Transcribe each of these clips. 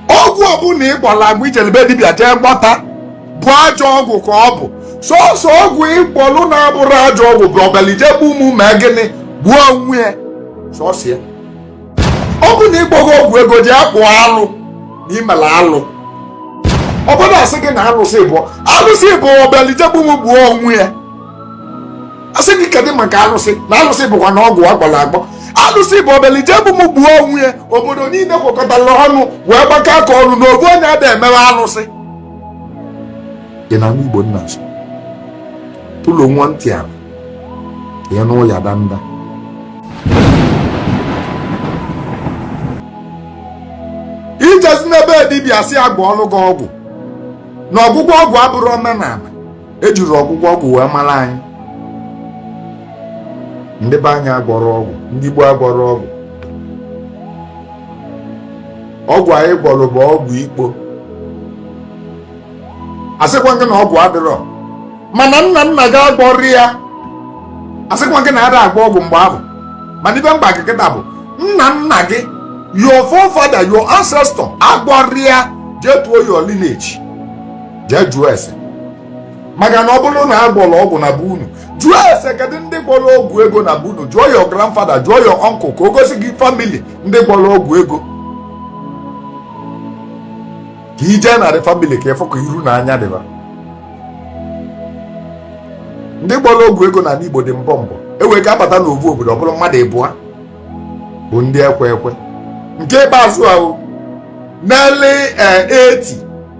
ọgwụ ọbụla ị gwọlụ agwọ i jelu be dibịa jee gwọta bụ ajọ ọgwụ ka ọ bụ sọsọ ọgwụ ị gwọlụ na-abụrọ ajọ ọgwụ bụ ọ bịalụ ije egbu mụ mee gịnị gbuo onwe ya sọsọ ya ọ bụ na ị gwọọ ọgwụ ego ji akpụ alụ na imela alụ obodo asị gị na alụsị bụ alụsị bụ ọ bịalụ ije egbu mụ gbuo onwe ya asị gị kedụ maka alụsị na alụsị bụkwa na ọgwụ agwọlụ agwọ alụsị bụ ọ bịalụ ije egbu m gbuo onwe ya obodo niile kwekọtara ọnụ wee gbakọ aka ọnụ na ogbu onye ada emewe alụsị dị na igbo nna nso tụlụ nwa ntị a ya anụ ụya danda ijezina be dibịa sị a gwọọlụ gị ọgwụ na ọgwụgwọ ọgwụ abụrọ omenala ejirọ ọgwụgwọ ọgwụ wee mara anyị ndị be anyị agwọrọ ọgwụ ndị gboo agwọrọ ọgwụ ọgwụ anyị gwọrọ bụ ọgwụ ikpo asịkwa gị na ọgwụ adịrọ mana nna nna gị agwọrọ ya asịkwa gị na ada agwọ ọgwụ mgbe ahụ mana ive m gwa gị kịta bụ nna nna gị your forefather your ancestor agwọrọ ya jee tuo your lineage jee jụọ ese maka na ọ bụrụ na a gwọrọ ọgwụ na be unu jụọ ese kedu ndị gwọrọ ọgwụ ego na be unu jụọ your grandfather jụọ your uncle ka o gosi gị family ndị gwọrọ ọgwụ ego ka i jee na that family ka ịfụ ka iru na anya dị va ndị gwọrọ ọgwụ ego na Igbo dị mbọ mbọ ewee ka abata n'ovu obodo ọ bụrụ mmadụ ịbụa bụ ndị ekwe ekwe nke ikpeazụ ahụ n'early 80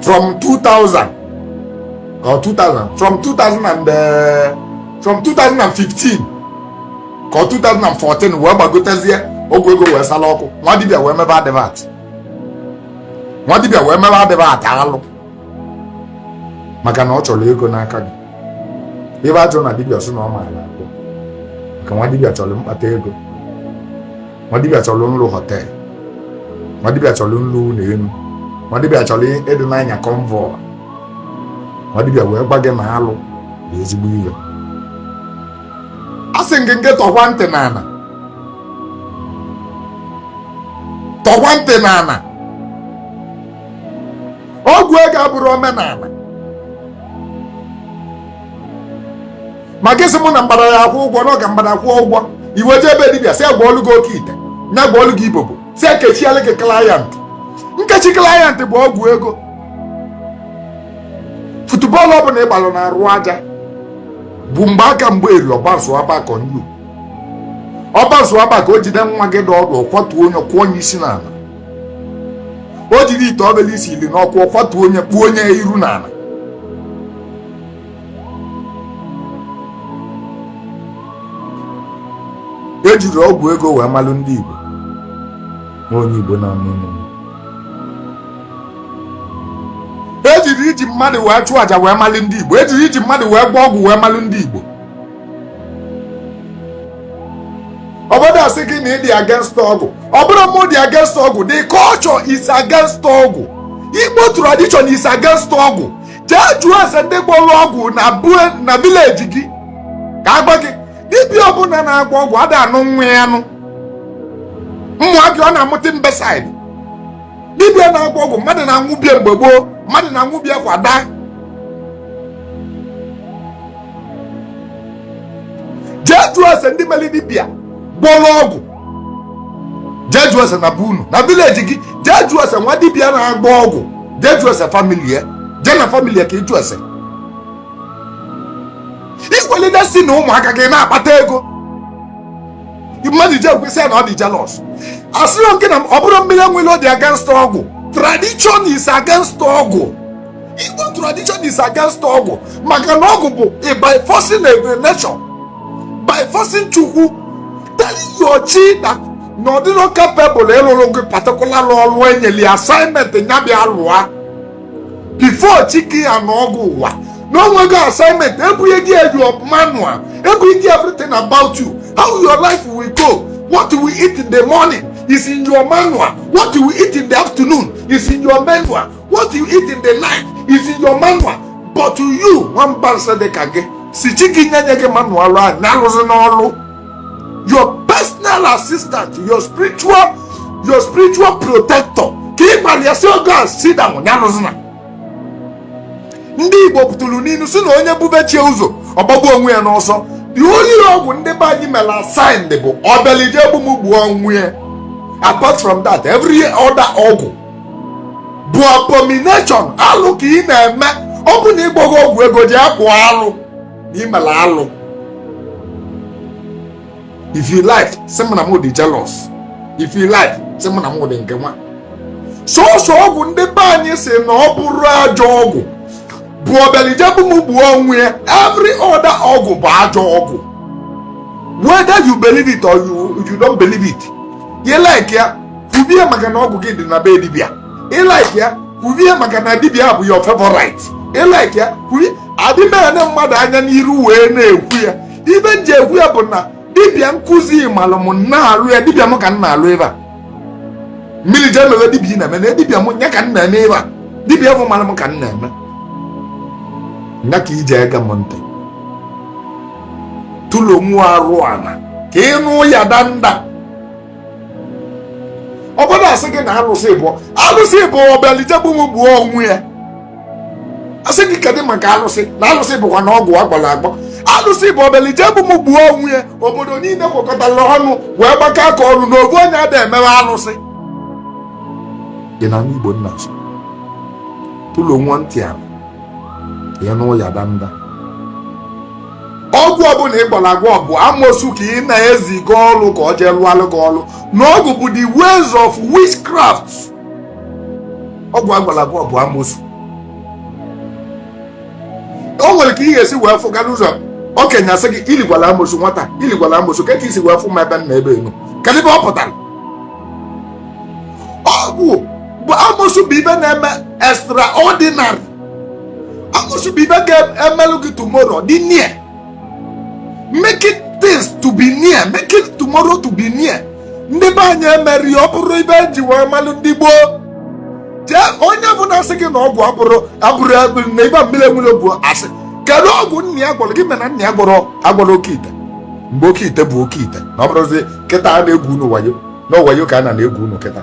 from 2000 or 2000 from 2000 and uh, from 2015 ka 2014 wee gbagotezie ọgwụ ego wee sala ọkụ nwa dibịa wee mebe advert nwa dibịa wee mebe advert alụ maka na ọ chọrọ ego n'aka gị ebe ajụ na dibịa sị na ọ maara agwọ maka nwa dibịa chọrọ mkpata ego nwa dibịa chọrọ nlụ hotel nwa dibịa chọrọ nlụ ụlọ elu nwa dibịa chọrọ ịdị na-anya convoy nwa dibịa wee gwa gị na alụ bụ ezigbo ihe a sị gị nke tọkwa ntị n'ala tọkwa ntị n'ala ọgwụ ego abụrọ omenala ma gị sị mụ na mgbada ya akwụ ụgwọ n'oge mgbada akwụ ụgwọ i wee jee ebe dibịa sị a gwọọlụ gị okeite ya gwọọlụ gị ibobo sị ekechielụ gị client nkechi client bụ ọgwụ ego futubọọlụ ọbụla ị gbalụ na-arụ aja bụ mgbe aka mgbe eri ọgbazu abakọ nnu ọgbazu abaka o jide nwa gị dị ọdụ ọ kwatuo onye kụọ onye isi n'ala o jiri ite obele isi ili n'ọkụ ọ kwatuo onye kpuo onye iru n'ala ejiri ọgwụ ego wee malụ ndị Igbo na onye Igbo na-anụ ọnụ ejiri iji mmadụ wee chụọ aja wee malụ ndị Igbo ejiri iji mmadụ wee gwọọ ọgwụ wee malụ ndị Igbo ụfọdụ asị gị na ị dị against ọgwụ ọ bụrọ mụ dị against ọgwụ the culture is against ọgwụ Igbo tradition is against ọgwụ jee jụọ ese ndị gwọrọ ọgwụ na be unu na village gị ka a gwa gị dibịa ọbụla na-agwọ ọgwụ ada anụ nwa ya anụ maka ọ na-amụta imbecile dibịa na-agwọ ọgwụ mmadụ na-anwụ be ya mgbe gboo mmadụ na-anwụ be ya kwa daa jee jụọ ese ndị melu dibịa gwọrọ ọgwụ jee jụọ ese na be unu na village gị jee jụọ ese nwa dibịa na-agwọ ọgwụ jee jụọ ese family ya jee na family ya ka ị jụọ ese i kwulite sị na ụmụaka gị na-akpata ego mmadụ je ekwu sị ya na ọ dị jealous asịrị nke na ọ bụrọ mmiri enwere ọ dị against ọgwụ tradition is against ọgwụ igbo tradition is against ọgwụ maka na ọgwụ bụ by forcing nature by forcing chukwu telling your chi that na ọ dịrọ capable ịlụlụ gị particular ọrụ enyeli assignment ya bịa lụa before chi gị ya na ọgụ ụwa na o nwego assignment e bunye gị your manual e bunye gị everything about you how your life will go what we eat in the morning is in your manual what we eat in the afternoon is in your manual what you eat in the night is in your manual but to you nwamba nsị dị ka gị sị chi gị nye nye gị manual ahụ ya alụzina ọlụ your personal assistant your spiritual your spiritual protector ka ị gwara ya sị oga sit down ya alụzina ndị igbo tụrụ n'ilu sị na onye bube chi ya ụzọ ọ gbagbuo onwe ya n'ọsọ the only ọgwụ ndị be anyị mere assigned bụ ọ bịalị je egbu m gbuo onwe ya apart from that every other ọgwụ bụ abomination alụ ka ị na-eme ọ bụ na ịgbọrọ ọgwụ ego jee kpụọ alụ na imela alụ if you like sị m na m dị jealous if you like sị m na m dị nke nwa sọsọ ọgwụ ndị be anyị sị na ọ bụrọ ajọ ọgwụ bụ ọbịalị ije egbu m gbuo onwe ya every other ọgwụ bụ ajọ ọgwụ whether you believe it or you, you don't believe it you like ya kwubie maka na ọgwụ gị dị na be dibia ị like ya kwubie maka na dibia bụ your favorite ị like ya kwubie adị m ene mmadụ anya n'iru wee na-ekwu ya ibe m ji ekwu ya bụ na dibia nkụzi malụ m na-alụ ya dibia m ka m na-alụ ebe a mmiri jee mewe dibia ị na-eme na dibia m ya ka m na-eme ebe a dibia bụ malụ m ka m na-eme ya ka ije ege m ntị tụlụ nwa arụ ala ka ịnụ ụya danda obodo asị gị na alụsị bụ alụsị bụ ọbịalị ije egbu m gbuo onwe ya asị gị kedụ maka alụsị na alụsị bụkwanụ ọgwụ agbọlụ agbọ alụsị bụ ọbịalị ije egbu m gbuo onwe ya obodo niile kwekọtara ọnụ wee gbakọ aka ọnụ na obu onye ada emewe alụsị dị na igbo nna nso tụlụ nwa ntị ala ya nụ ụya danda ọgwụ ọbụla ị gwọlụ agwọ bụ amosu ka ị na-eziga ọrụ ka ọ jee lụalụ gị ọrụ na ọgwụ bụ the ways of witchcraft ọgwụ agwọlụ agwọ bụ amosu o nwere ka ị ga-esi wee fụga ụzọ okenye asị gị iligwala amosu nwata iligwala amosu ka ka isi wee fụ ma ebe nna ebe enu kedụ ebe ọ pụtara ọgwụ bụ amosu bụ ibe na-eme extraordinary Amosu bụ ibe ga-emelụ gị tomorrow dị near. Making things to be near, making tomorrow to be near. Ndị be anyị emeri ọ bụrụ ibe eji wee malụ ndị gboo. Jee onye ọbụna sị gị na ọgwụ abụrụ na ibe mmiri enwere bụ asị. Kedu ọgwụ nna ya gwọrọ gịnị mere nna ya agwọrọ oke ite mgbe oke ite bụ oke ite na ọ bụrọzi kịta a na-egwu unu wayo na wayo ka a na-egwu unu kịta